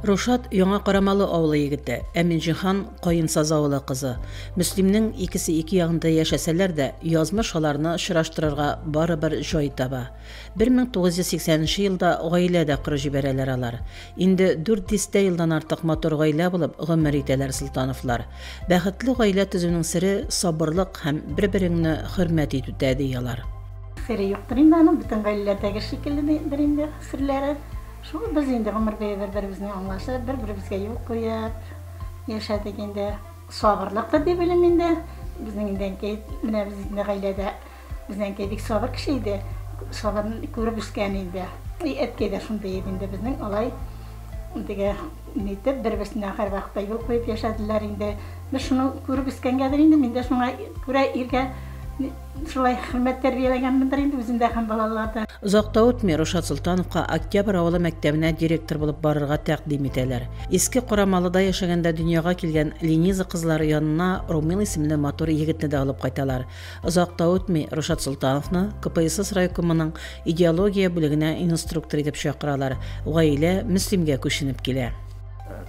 Рушат, Яңа Карамалы авылы егете, ә Минҗихан, Каенсаз авылы кызы. Мөслимнең икесе ике ягында яшәсәләр дә, язмыш аларны очраштырырга барыбер җай таба. 1980 нче елда гаилә дә корып җибәрәләр алар. Инде дүрт дистә елдан артык матур гаилә булып гомер итәләр Солтановлар. Бәхетле гаилә төзүнең сере, сабырлык һәм бер-береңне хөрмәт итүдә, ди алар. Сере юктыр инде аның, бөтен гаиләләрдәге шикелледер инде серләре. Шул без инде гомер буе бер-беребезне аңлашып, бер-беребезгә юл куеп яшәдек инде. Сабырлык та дип уйлыйм инде. Безнең инде әнкәй, менә безнең гаиләдә безнең әнкәй бик сабыр кеше иде. Сабырын күреп үскән инде. И әткәй дә шундый иде инде безнең алай теге нитеп бер-берсенә һәрвакытта юл куеп яшәделәр инде. Без шуны күреп үскәнгәдер инде, мин дә шуңа күрә иргә Шулай хөрмәт тәрбияләгәнмендер инде үзендә һәм балаларда. Озак та үтми, Рушат Солтановка Октябрь авылы мәктәбенә директор булып барырга тәкъдим итәләр. Иске Карамалыда яшәгәндә дөньяга килгән Лениза кызлары янына Румил исемле матур егетне дә алып кайталар. Озак та үтми, Рушат Солтановны КПСС райкомының идеология бүлегенә инструктор итеп чакыралар. Гаилә Мөслимгә күченеп килә.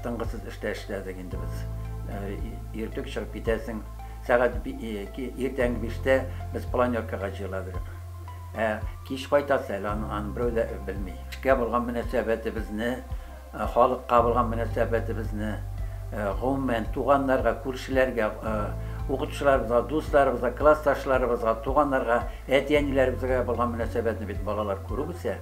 Тынгысыз эштә эшләдек инде без. Иртүк чыгып китәсең. Сәгать иртәнге биштә без планеркага җыела бирдек. Ә кич кайтасы әле, аны берәү дә белми. Эшкә булган мөнәсәбәтебезне, халыкка булган мөнәсәбәтебезне, гомумән, туганнарга, күршеләргә, укытучыларыбызга, дусларыбызга, классташларыбызга, туганнарга, әти-әниләребезгә булган мөнәсәбәтне бит балалар күреп үсә.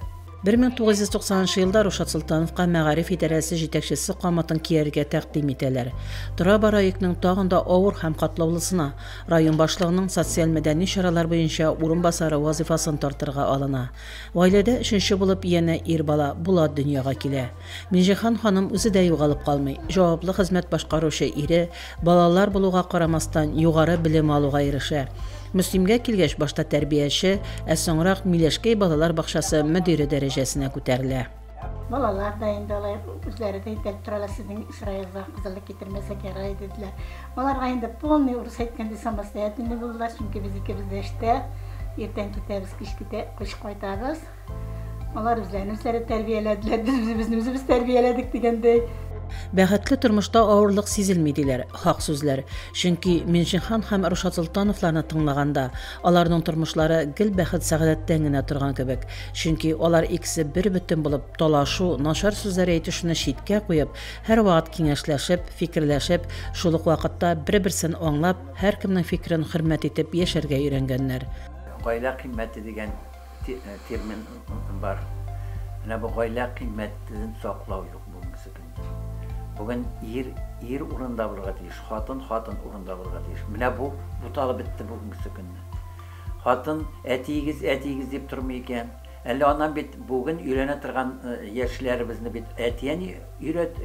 1990 елда Рушат Солтановка мәгариф идарәсе җитәкчесе камытын кияргә тәкъдим итәләр. Тора-бара йөкнең тагын да авыр һәм катлаулысына, район башлыгының социаль-мәдәни чаралар буенча урынбасары вазыйфасын тартырга алына. Гаиләдә өченче булып янә ир бала, Булат дөньяга килә. Миңҗихан ханым үзе дә югалып калмый, җаваплы хезмәт башкаручы ире, балалар булуга карамастан, югары белем алуга ирешә. Мөслимгә килгәч, башта тәрбияче, ә соңрак Миләшкәй балалар бакчасы мөдире дәрәҗәсенә күтәрелә. Балалар да инде алай үзләре дә итәлеп торалар, сезнең Исраилга кызыллык китермәсәк ярар иде, диләр. Аларга инде полный, урысча әйткәндә, самостоятельный булдылар, чөнки без икебез дә эштә, иртән китәбез, кич китә, кыш кайтабыз. Алар үзләрен үзләре тәрбияләделәр, без үзебезне үзебез тәрбияләдек дигәндәй. Бәхетле тормышта авырлык сизелми, диләр. Хак сүзләр. Чөнки Минҗихан һәм Рушат Солтановларны тыңлаганда, аларның тормышлары гел бәхет-сәгадәттән генә торган кебек. Чөнки алар икесе бербөтен булып, талашу, начар сүзләр әйтешүне читкә куеп, һәрвакыт киңәшләшеп, фикерләшеп, шул ук вакытта бер-берсен аңлап, һәркемнең фикерен хөрмәт итеп яшәргә өйрәнгәннәр. Гаилә кыйммәте дигән термин бар. Менә бу гаилә кыйммәтен саклау юк бүгенге көндә. Бүген ир ир урында булырга тиеш, хатын хатын урында булырга тиеш. Менә бу буталып бетте бүгенге көндә. Хатын әтиегез, әтиегез дип тормый икән. Әле аннан бит бүген өйләнә торган яшьләребезне бит әти-әни өйрәт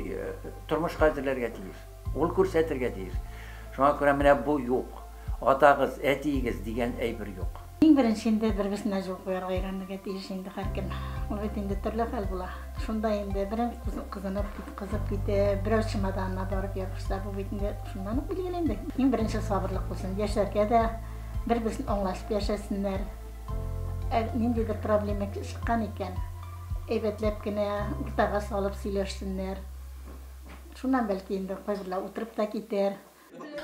тормышка әзерләргә тиеш. Ул күрсәтергә тиеш. Шуңа күрә менә бу юк. Атагыз, әтиегез дигән әйбер юк. Иң беренче инде бер-берсенә җылы куярга өйрәнергә тиеш инде һәркем. Ул бит инде төрле хәл була. Шунда инде берәү кызынып, кызып китеп, берәү чемоданына барып ябышса, бу бит инде шуннан ук билгеле инде. Иң беренче сабырлык булсын. Яшьләргә дә бер-берсен аңлашып яшәсеннәр. Ә ниндидер проблема чыккан икән, әйбәтләп кенә уртага салып сөйләшсеннәр. Шуннан бәлки инде кайберләр утырып та китәр.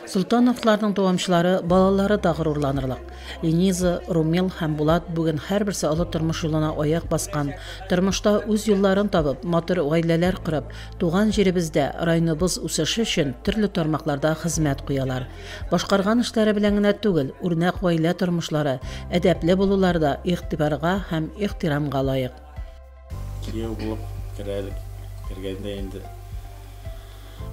Солтановларның дәвамчылары, балалары да горурланырлык. Лениза, Румил һәм Булат бүген һәрберсе олы тормыш юлына аяк баскан, тормышта үз юлларын табып, матур гаиләләр корып, туган җиребездә, районыбыз үсеше өчен төрле тармакларда хезмәт куялар. Башкарган эшләре белән генә түгел, үрнәк гаилә тормышлары, әдәпле булулары да игътибарга һәм ихтирамга лаек. Кияү булып керә әле кергәндә инде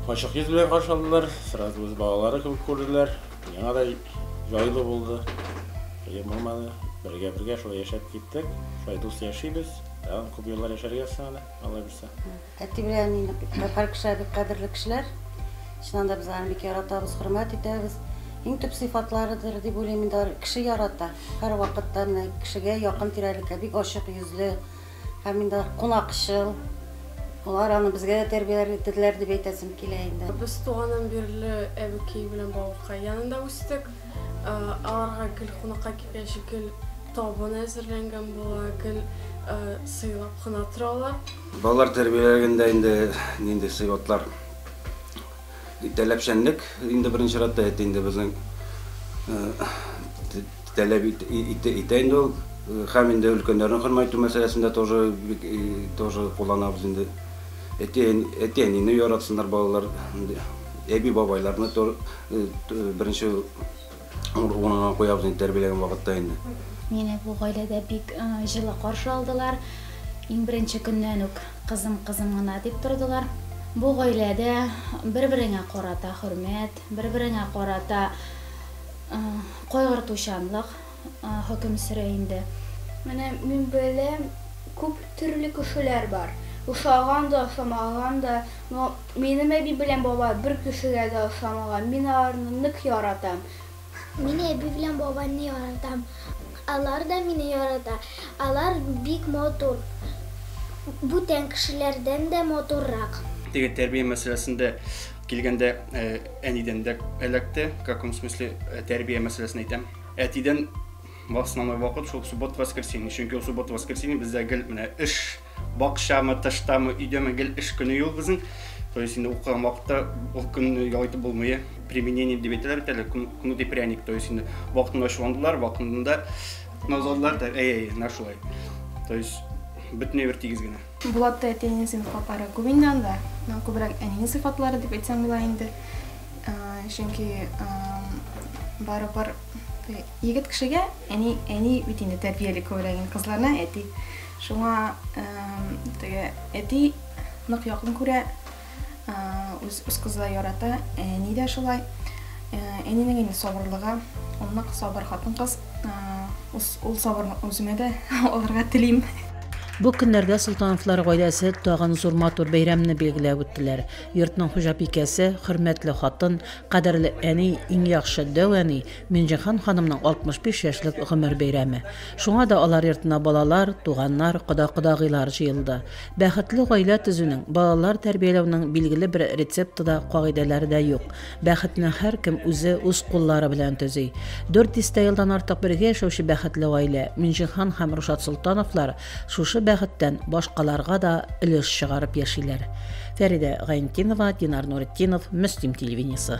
ачык йөз белән каршы алдылар, сразу үз балалары кебек күрделәр. Миңа да җайлы булды. Кыен булмады. Бергә-бергә шулай яшәп киттек. Шулай дус яшибез. Тагын күп еллар яшәргә язсын әле, алла бирсә. Әти белән әнине татар кешеләре бик кадерле кешеләр. Чыннан да без аларны бик яратабыз, хөрмәт итәбез. Иң төп сыйфатларыдыр дип уйлыйм инде, кеше ярата. Һәрвакытта менә кешегә якын тирәлеккә бик ачык йөзле һәм инде кунакчыл. Алар аны безгә дә тәрбияләр итеделәр дип әйтәсем килә инде. Без туганнан бирле әбекәй белән бабакай янында үстек. Аларга гел кунакка килгәч гел табын әзерләнгән була, гел сыйлап кына торалар. Балалар тәрбияләгәндә инде нинди сыйфатлар? Таләпчәнлек инде беренче чиратта әйтте инде безнең таләп итә инде ул һәм инде өлкәннәрне хөрмәт итү мәсьәләсендә тоже тоже кулланабыз инде әти әнине яратсыннар балалар әби бабайларны беренче Ул уңган куябыз инде тәрбияләгән вакытта инде. Мине бу гаиләдә бик җылы каршы алдылар. Иң беренче көннән үк кызым, кызым гына дип тордылар. Бу гаиләдә бер-береңә карата хөрмәт, бер-береңә карата кайгыртучанлык хөкем сөрә инде. Менә мин беләм, күп төрле кешеләр бар. Ошаган да, ошамаган да, но. Минем әби белән бабай бер кешегә дә охшамаган. Мин аларны нык яратам. Мин әби белән бабайны яратам. Алар да мине ярата. Алар бик матур. Бүтән кешеләрдән дә матуррак. Теге тәрбия мәсьәләсендә килгәндә, әнидән дә эләкте. В каком смысле, тәрбия мәсьәләсен әйтәм. Әтидән в основной вакыт шул суббота-воскресенье. Чөнки ул суббота-воскресенье бездә гел менә эш. Бакчамы, тыштамы, өйдәме, гел эш көне юл безнең. То есть инде укыган вакытта ул көнне ял итеп булмый. Применение дип әйтәләр бит әле, кнут и пряник. То есть инде вакытында ачуландылар, вакытында назладылар да, әй, әй, на шулай. То есть бөтенләй бер тигез генә. Булатта әтиеңнең сыйфатлары күп инде анда. Күбрәк әнинең сыйфатлары дип әйтсәң була инде. Чөнки барыбер Егет кешегә әни, әни бит инде тәрбияли күбрәк инде кызларына әти. Шуңа теге әти нык якын күрә, үз үз кызы ярата, әни дә шулай. Әнинең инде сабырлыгы, ул нык сабыр хатын-кыз. Ул сабырны үземә дә алырга телим. Бу көннәрдә Солтановлар гаиләсе тагын зур матур бәйрәмне билгеләп үттеләр. Йортның хуҗабикәсе, хөрмәтле хатын, кадерле әни, иң яхшы дәү әни, Минҗиһан ханымның 65 яшьлек гомер бәйрәме. Шуңа да алар йортына балалар, туганнар, кода-кодагыйлар җыелды. Бәхетле гаилә төзүнең, балалар тәрбияләүнең билгеле бер рецепты да, кагыйдәләре дә юк. Бәхетне һәркем үзе, үз куллары белән төзи. Дүрт дистә елдан артык бергә яшәүче бәхетле гаилә, Минҗиһан һәм Рушат Солтановлар, шушы бәхеттән башкаларга да өлеш чыгарып яшиләр. Фәридә Гайнтинова, Динар Нуретдинов, Мөслим телевидениесе.